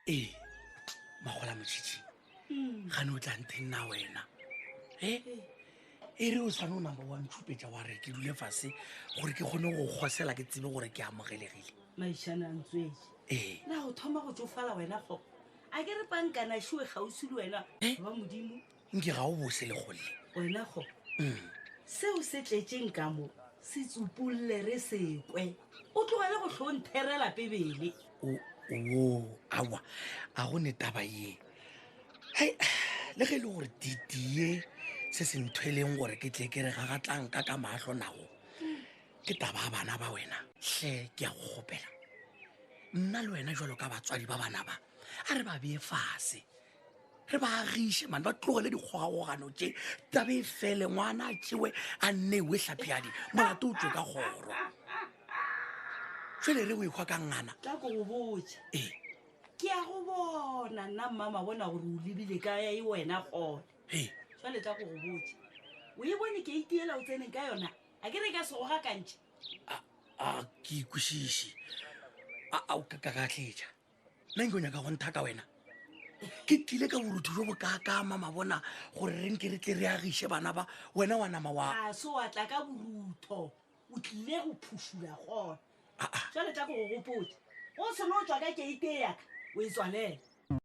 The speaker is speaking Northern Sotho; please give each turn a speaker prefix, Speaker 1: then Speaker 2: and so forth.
Speaker 1: ee magola motšhitšhi gane o tla nteng na wena e e re o sane o number one tšhupetša wa re ke dule fase gore ke kgone go kgosela ke tsebe gore ke amogelegile maišane a ntswetse
Speaker 2: ee na go thoma go tsofala wena kgopo a ke re pankana šiwe kgauswi le wena ba modimo Nke ga o bose
Speaker 1: le golle. Wena kgo,
Speaker 2: seo se tletšeng ka mo se tsupolle re se kwe. O tlogele go hlo ntherela Bibele. O, wo,
Speaker 1: aowa, a go ne taba ye. Hei, le ge e le gore diti ye se se nthweleng gore ke tle ke re gagatlang ka ka mahlo nago, ke taba ya bana ba wena. Hle, ke a go kgopela, nna le wena jalo ka batswadi ba bana ba, a re ba bee fase, re ba agiše mane ba tlogele dikgogagogano tše tabe e fele ngwana a tšewe a nnewe tlhapjadi molato o tswe ka kgoro fele re o ekgwa ka ngana ka ko go botse
Speaker 2: ee ke ya go bona nna mmama bona gore o lebile ka ya e wena gone ee jale tla ko go botse o e bone ke itiela o tseneng ka yona a ke re ka sego ga kantšhe a
Speaker 1: ke ikwešiše a o ka ka ka tletša neng ke o nyaka go ntha ka wena ke tlile ka borutho jo bokaakama mabona gore re nke re tle re agiše bana ba wena wa nama wa a se wa tla ka
Speaker 2: borutho o tlile go phušula gona Ah, ah. jale tla ko go gopotse o selo o tswa ka keite yaka o e tswalela